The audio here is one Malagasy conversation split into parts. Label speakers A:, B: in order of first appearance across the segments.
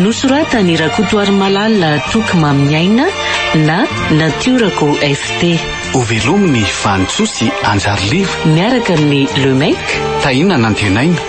A: Nosoratan'i Rakotoarimalala Toky Mamin'ny Aina na Natiorako FT. Hovelomin'i
B: Vanintsoa sy Andry Arliva. Miaraka amin'ny
A: Le Mec. Tahiana
B: Nantenaina.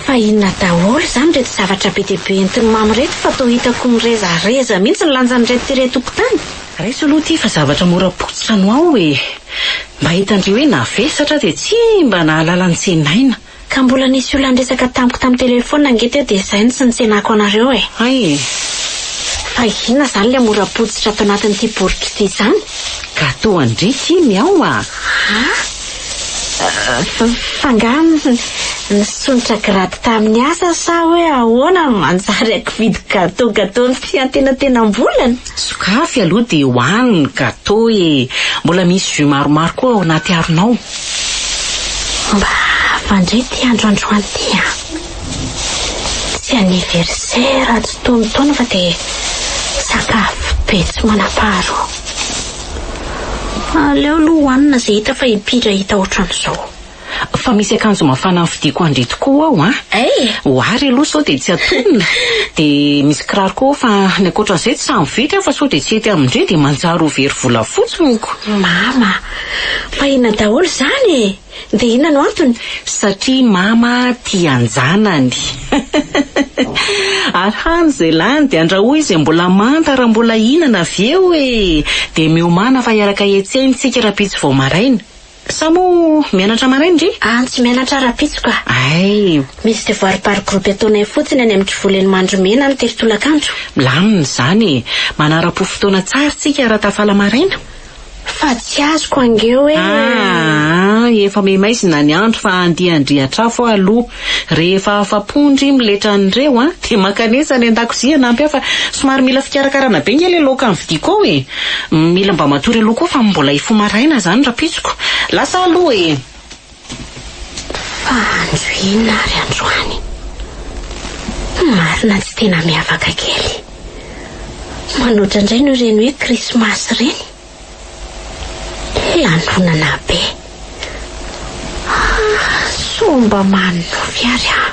C: Fa inona daholo izany ireto zavatra be dia be entin'i Mamy ireto fa toa hitako nirezareza mihitsy ny lanjan'ireto ity re tompon-tany? Raiso aloha ity fa
A: zavatra mora potsitra no ao e! Mba hitan-dry hoe navesatra dia tsy mba nahalala ny tsenaina. Ka mbola nisy
C: olona niresaka tamiko tamin'ny telefaonina ange teo dia izay no tsy nitsenako anareo e! Hay e!
A: Fa
C: inona izany ilay mora potsitra ato anatin'ity boriky ity izany? Gateau an-dry
A: ity miao a! Haa?
C: Fa angaha nisondrotra grade tamin'ny asa sa hoe ahoana no manjary ankividy gateau gateau ny fiantenantenam-bolana? Sokafy
A: aloha dia ho any ny gateau e! Mbola misy jus maromaro koa ao anaty haronao.
C: Mba afandray ity andro androany ity an! Tsy anniversaire tsy tonon-taona fa dia sakafo be tsy manam-paharoa. Aleo aloha hohanina izay hita fa hipiry hahita ohatran'izao. Fa misy
A: akanjo mafana nofidiko ho an-dry tokoa ao an! Hey! Ho àry aloha sao dia tsy atonona. Dia misy kiraro koa fa ny ankoatran'izay tsy sahy mividy aho fa sao dia tsy hety amin-dry dia manjary ho very vola fotsiny ko! Mama!
C: Fa inona daholo izany e? Dia inona no antony? Satria mama
A: tia an-janany. Ary hany izay lany dia andrahoy izay mbola manta raha mbola hihinana avy eo e! Dia miomàna fa hiaraka hiantsena isika rahampitso vao maraina. Sa moa mianatra maraina re? An, tsy mianatra rahampitso
C: ka. Hay! Misy
A: devoirs par
C: groupe ataonay fotsiny any amin'ny Kivoly eny Mandromena ny telo tolakandro. Milamina izany
A: e! Manara-po fotoana tsara isika raha tafala maraina. Fa tsy
C: azoko ange hoe. Aah
A: efa maimaizina ny andro fa andeha handriatr'afo aho aloha. Rehefa afa-po ndry miletra an'ireo an, dia mankanesa any an-dakozia hanampy ahy fa somary mila fikarakarana be nge ilay laoka novidiko ao e. Mila mba matory aloha koa fa mbola hifoha maraina izany rahampitsoko. Lasa aloha e.
C: Fa andro inona ary androany? Marina tsy tena miavaka kely. Manoatra indray noho ireny hoe krismasy ireny. Lanonana be. Ah, sao mba manonofy ary aho.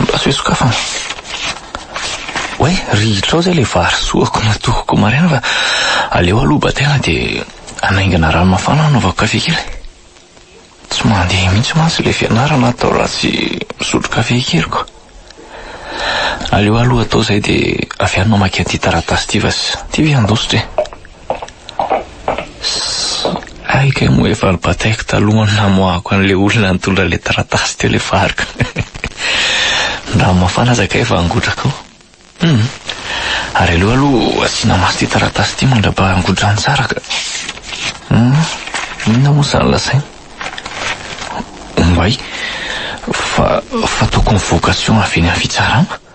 D: Mba tsy hoe sokafana. Oay, rihitrao izay ilay vary soako natohoko maraina fa aleo aloha batena dia hanaingana rano mafana hanaovako kafe kely. Tsy mandeha mihitsy mantsy ilay fianarana atao raha tsy misotro kafe keliko. Aleo aloha atao izay dia avy any mamaky an'ity taratasy ity fa tsy tia ve handositra e. Hay kay moa efa nibataiko talohan'ny namoahako an'ilay olona nitondra ilay taratasy teo ilay fariko. Ny rano mafana aza kay efa hangotraka ao. Hum. Ary aleo aloha asiana maso ity taratasy ity mandra-paha hangotrany tsara ka. Hum. Inona moa izany lazainy? Ombay fa fa tokony vocation avy eny amin'ny fitsarana.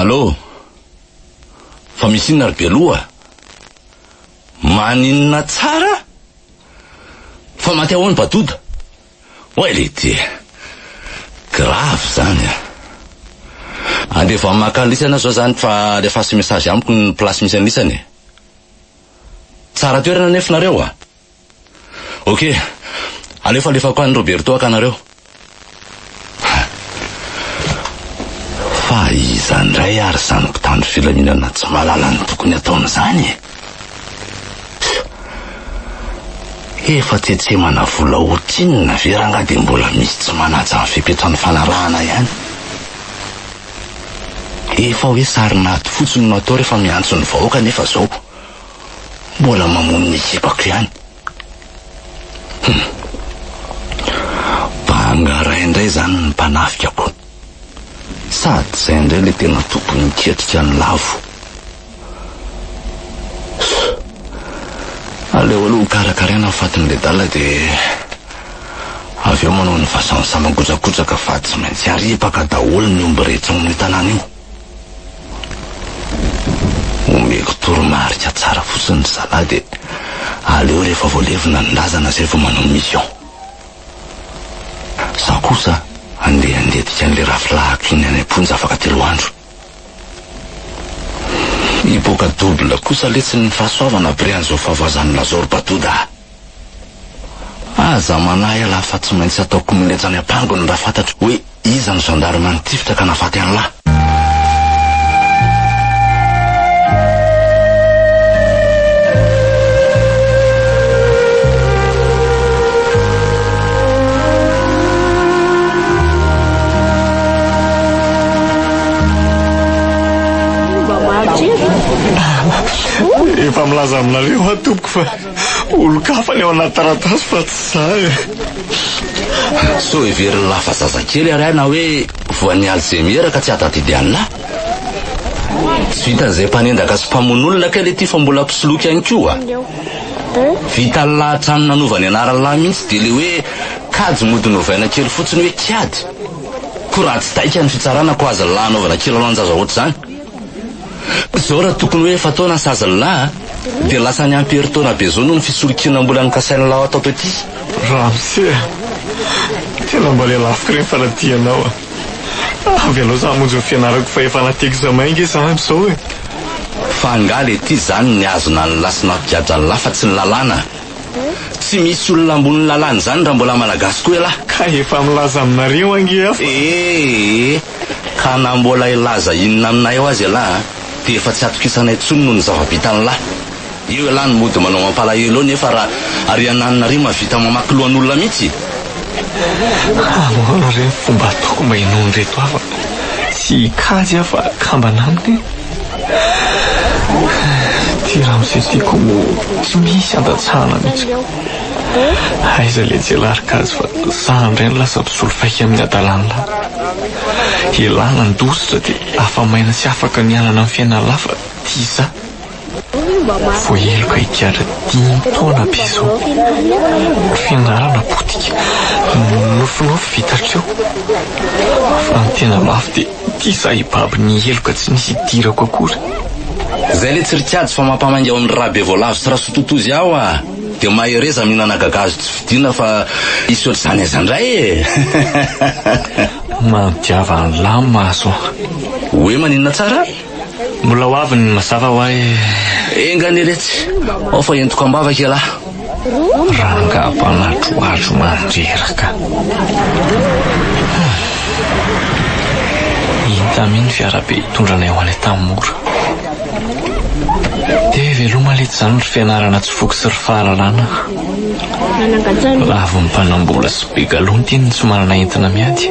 E: Allô? Fa misy inona ry Beloha? Maninona tsara? Fa maty ahoana Badoda? Oay le ty e. Grave zany a. Andevo any maka an'lisany aho zao zany fa alefaso message amiko ny place misy an'lisany e. Tsara toerana anefa nareo a. Ok, aleo falefako any Roberto haka anareo. Fa iza indray ary izany mpitandro filaminana tsy mahalala ny tokony ataony izany e? Efa tsetsemana vola otinina ve rangaha dia mbola misy tsy manaja ny fepetra ny fanarahana ihany? Efa hoe sarin'ady fotsiny no atao rehefa miantso ny vahoaka nefa izao. Mbola mamono ny tsipako ihany. Hum. Banga ray indray izany ny mpanafikako. Sady izay indray ilay tena tokony hiketrika ny lavo. Aleo aloha hokarakaraina ny fatin'ny ledala dia avy eo manao ny vasan'ny saman-kojakoja ka fa tsy maintsy aripaka daholo ny omby rehetra ao amin'ny tanàna io. Omeko toromarika tsara fotsiny ry zalahy dia aleo rehefa voalevina ny razana izay vao manao mission. Izaho kosa andeha handetika an'ilay rafilahiko iny any am-ponja afaka telo andro. Hipoaka double kosa letsy ny fahasoavana après an'izao fahavoazan'i Lazao ry Batoda a! Aza manahy ialahy fa tsy maintsy atao kominentsy any am-pangony raha fantatro hoe iza ny gendarme nitifitra ka nahafaty an'lah.
F: Efa milaza aminareo aho tompoko fa. Olon-kafa ny ao anaty taratasy fa tsy za e.
E: Sao heverin'i Lahy fa zazakely ary ahy na hoe voan'ny alzheimer ka tsy ahatadidy an'lah. Tsy vitan'izay mpanendaka sy mpamono olona kay le ty fa mbola mpisoloky ihany koa. Vitan'i Lahy hatrany nanova ny anaran'i Lahy mihitsy dia le hoe kajy mody novaina kely fotsiny hoe kiady. Koa raha tsy taika ny fitsarana koa azon'i Lahy anaovana kilalaon-jaza ohatr'izany. Zao raha tokony hoe efa taona sazy ny lahy a! Dia lasa ny ampy herintaona be zao noho ny fisolokianam-bolan'ny kasain'ny lahy ao Taotoetia. Ramose a!
F: Tena mba lelafiko ireny fanadihana ao a! Avy hanao za hamonjy ny fianarako fa efa anaty examen nge za amzao e! Fa angaha
E: le ty zany ny azona ny lahy sy nampigadra ny lahy fa tsy ny lalàna a! Tsy misy olona ambonin'ny lalàna izany raha mbola malagasy koa elah! Ka efa milaza
F: aminareo ange aho fa. Ee!
E: Ka na mbola hilaza inona aminay eo aza ialahy an, dia efa tsy atokisanay intsony noho ny zava-bitan'ilahy. Eo ialahy no mody manao mampalahelo eo nefa raha ary ianany nareo mahavita mamaky lohan'olona mihitsy e! Ahoana
F: re ny fomba ataoko mba hinoan'ireto havako sy hikajy aho fa kambana aminy e? Ity Ramose ity koa moa tsy misy andatsahana mihitsy. Aiza le jialahy ry gasy fa za indray no lasa mpisolo faika amin'ny adalanla. Elah nandositra de afa maina sy afaka nialana amin'ny fiainana lafa ty za. Voaheloka higadra dimy taona be zao. Fianarana potika, nofinofy vita hatreo. Fa ny tena mafy de Ity zah hibaby ny heloka tsy nisy hidirako akory. Zay le
E: tsy rik'ady fa mampamainga ao ny Rabevoalavo sy Rasototozy ao a! Dia mahereza mihinana gagazo tsy fidina fa hisy ohatr'izany aiza indray e!
F: Manodiava an'lah maso an! Hoe
E: maninona tsara? Mbola ho avy
F: ny mazava ho ahy. Enga anie
E: letsy, ao fa entiko am-bava ialahy. Rangahy
F: mpanatroatro mandreraka. Intamia ny fiarabe hitondra anay ho any Antamora. Dia veloma letsy izany ry fianarana tsy voky sy ry fahalalana. Lavon'ny mpanam-bola sy be galon-tiany ny tsy manana entona miady.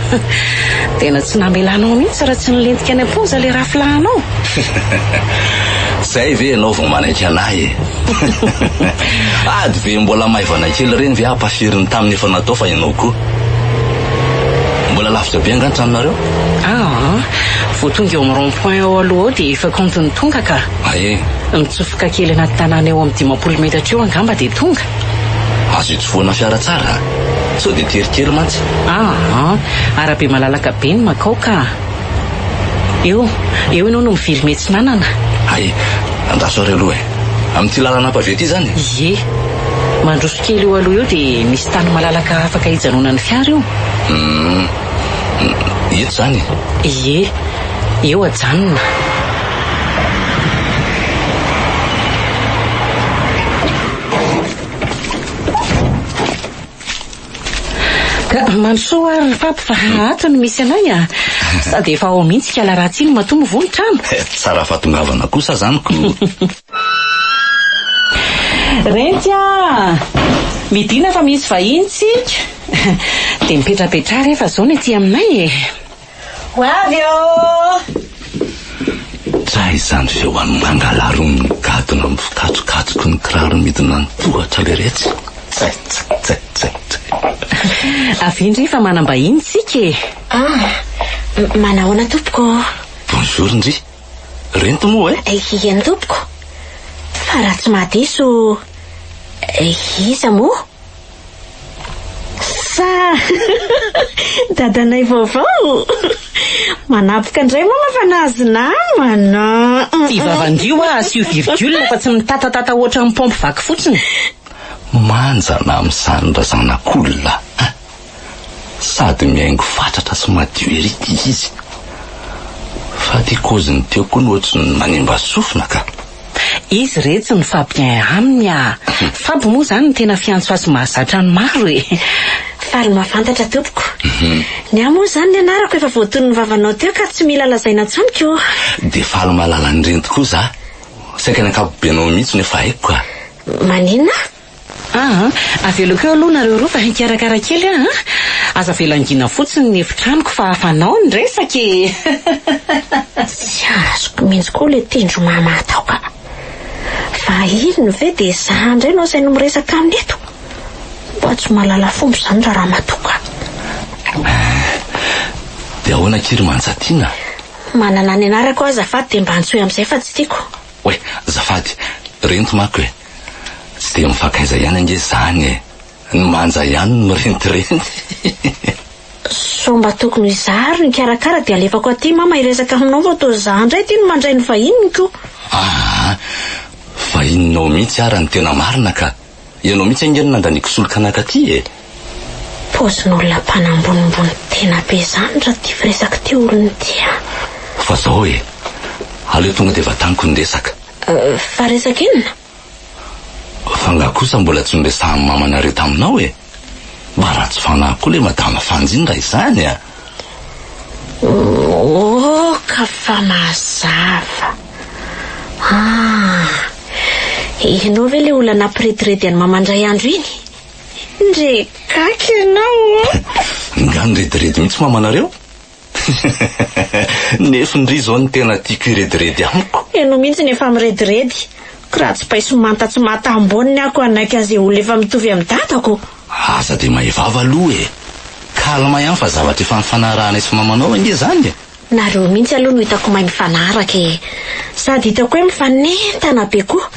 A: Tena tsy namelanao mihitsy raha tsy nilentika any am-ponja ilay rafilahinao.
E: Zay ve ianao vao manaiky an'ahy e? Ady be mbola maivana kely ireny ve ampafirin'ny tamin'ny efa natao fa ianao koa. Mbola lavitra be angaha ny tranonareo? Aa,
A: vao tonga eo amin'ny rond point ao aloha ao dia efa kaonty ny tonga ka. Ae. Mitsofoka kely anaty tanàna eo amin'ny dimampolo
E: metatra
A: eo angamba dia tonga. Azo
E: itsofohana fiara tsara a! Sao dia teritery mantsy. Aa!
A: Arabe malalaka be ny makao ka! Eo, eo ianao no mivilime tsy nanana. Hay,
E: andraso ary aloha e! Amin'ity lalana pavé ity izany e! Ie!
A: Mandroso kely eo aloha eo dia misy tany malalaka afaka hijanonan'ny fiara eo. Uhm.
E: Eto izany e! Ie!
A: Eo ajanona. Ka mandrosoa ary ry Pape fa ato no misy anay a. Sady efa ao mihitsy ikala ratsy iny matoa mivoha ny trano. Tsara fahatongavana
E: kosa zany ko.
A: Renty a! Midina fa misy vahiny tsika. Dia mipetrapetraha rehefa zao ny aty aminay e. Ho
C: avy aho!
E: Tray izany feoany mangalarin'ny gadona mifikatrokatroky ny kiraro midina ny tohatra leretsy. Tsay tsay tsay tsay tsay.
A: Avia ndry fa manam-bahiny tsika e! Ah! Manahoana
C: tompoko ô? Bonjour
E: ndry! Rento moa e? Eny tompoko!
C: Fa raha tsy maha diso iza moa? Sa dadanay vaovao? Manapoka indray mama fa nahazo namana. Ivavandio
A: ah, asio virgule fa tsy mitatatata ohatran'ny pompe vaky fotsiny. Manjana
E: amin'izany ra zanak'olona a! Sady mihaingo fatratra sy madio ery ty izy. Fa ty kôziny teo koa ny ohatry ny manimba sofina ka. Izy
A: retsy no fa bien aminy a! Fab moa zany no tena fiantsoa sy mahazatra ny maro e! Faly
C: mahafantatra tompoko. Ny ahy moa zany ny anarako efa voatono ny vavanao teo ka tsy mila lazaina tsony ko. Dia faly mahalala
E: an'ireny tokoa za. Saika ny ankapobenao mihitsy no efa haiko ka. Maninona?
C: Ah
A: an! Avelako eo aloha nareo roa fa hikarakara kely aho an! Aza avela angina fotsiny ny efitranoko fa fanao ny resaka e!
C: Tsy azoko mintsy koa le tendro mama atao ka! Fa inona ve dia za indray no asainy miresaka aminy eto? Mba tsy mahalala fomba izany ra ramatoa ka! Eh!
E: Dia ahoana akia ry Manjatiana? Manana ny
C: anarako aho azafady dia mba antsoy amin'izay fa tsy tiako. Oay! Zafady!
E: Rento manko e! Tsy dia mifankaiza ihany ange izany e! Ny manja ihany no mirentirenty.
C: Sao mba tokony ho izaho ary no hikarakara dia alefako aty mama hiresaka aminao fa toa izaho indray aty no mandray ny vahininy ko! Aa!
E: Vahininao mihitsy ara ny tena marina ka! Ianao mihitsy ange no nandaniako solika nankaty e!
C: Paozin'olona mpanambonimbony tena be izany raty firesaka ity olona ity a! Fa izao
E: e! Aleo tonga dia vataniko ny resaka. Fa resaka
C: inona?
E: Fa nga kosa mbola tsy noresahan'i mamanareo taminao e? Mba ratsy fanahy koa le madama Fanjy iny raha izany a!
C: Ok fa mazava. Ah! Ianao ve le olona nampirediredy an'i mama indray andro iny? Ndre gaga ianao ô! Nga
E: nirediredy mihitsy mamanareo? Nefn ry zao ny tena tiako hirediredy amiko. Ianao mihitsy no efa
C: mirediredy. Ko raha tsy paiso manta tsy mata amboniny aho ko hanaiky an'izay olona efa mitovy amin'ny dadako. Aza dia may
E: vava aloha e! Calme ihany fa zavatra efa nifanaranay sy mamanao ange zany e! Nareo mihitsy aloha
C: no hitako may mifanaraka e! Sady hitako hoe mifanentana be koa!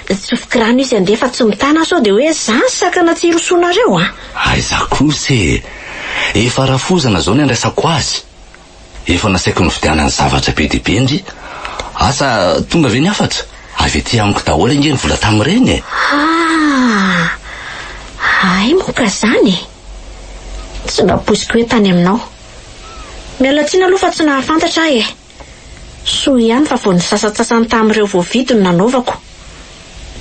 C: Tsofiko rano izy handeha fa tsy mitana sao dia hoe zany sakana tsy hirosoanareo a! Aiza
E: kosa e! Efa rafozana zao ny andraisako azy. Efa nasaiko nividianany zavatra be dia be ndry. Asa tonga ve ny hafatra? Avy aty amiko daholo ange ny vola tamin'ireny e! Haa!
C: Hay moa ka zany e! Tsy mba poiziko hoe tany aminao. Miala tsiny aloha fa tsy nahafantatra aho e! Soa ihany fa vao ny sasantsasany tamin'ireo voavidy no nanaovako.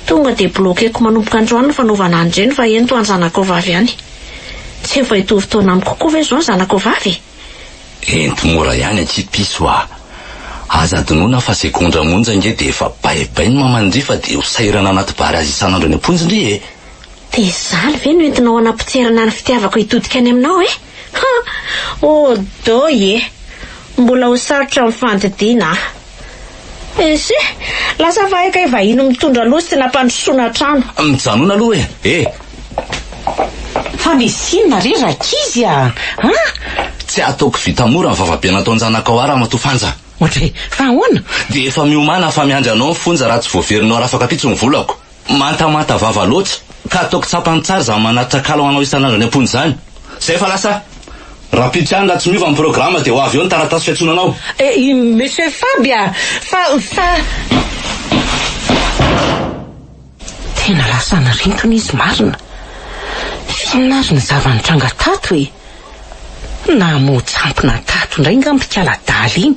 C: Tonga dia bloquer-ko manomboka androany ny fanaovana an'ireny fa eny toa ny zanakao vavy ihany. Tsy efa hitovy taona amiko koa ve izao ny zanakao vavy e? Ento
E: mora ihany akia piso a! Aza adinoina fa segondra monja ange dia efa baibai ny maman-dry fa dia ho sahirana anaty bar azy isan'andro any am-ponjin-dry e! Dia izany
C: ve no entinao hanapotserana ny fitiavako hitodika any aminao e? Ha! Oh doy e! Mbola ho sarotra ny fandidiana a! Ese! Lasa vahay kay vahiny mitondra loha sy nampandrosoana trano. Mijanona aloha e!
E: Eh!
A: Fa misy inona re rankizy a! An!
E: Tsy ataoko vita mora ny vavabe nataon-janakao ahy Ramatoa Fanja. Otree! Fa
A: ahoana? Dia efa miomana
E: aho fa miandry anao ny fonja raha tsy voaverinao arafaka ampitso ny volako. Mantamanta vava loatra ka ataoko tsapany tsara izany manatr'akala ho anao isan'andro any am-pony izany. Izay fa lasa. Rahampitso ihany raha tsy miova ny programa dia ho avy eo ny taratasy fiantsoana anao. Eh, i Monsieur
A: Faby a! Fa, fa. Tena lasa nirintona izy marina. Inona ary ny zava-nitranga tato e? Namoa tsampona tato indray nga mpikala daly iny.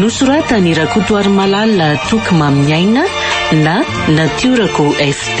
B: nosoratany
A: rakotoary malala toky mamin'ny aina na natiorako ft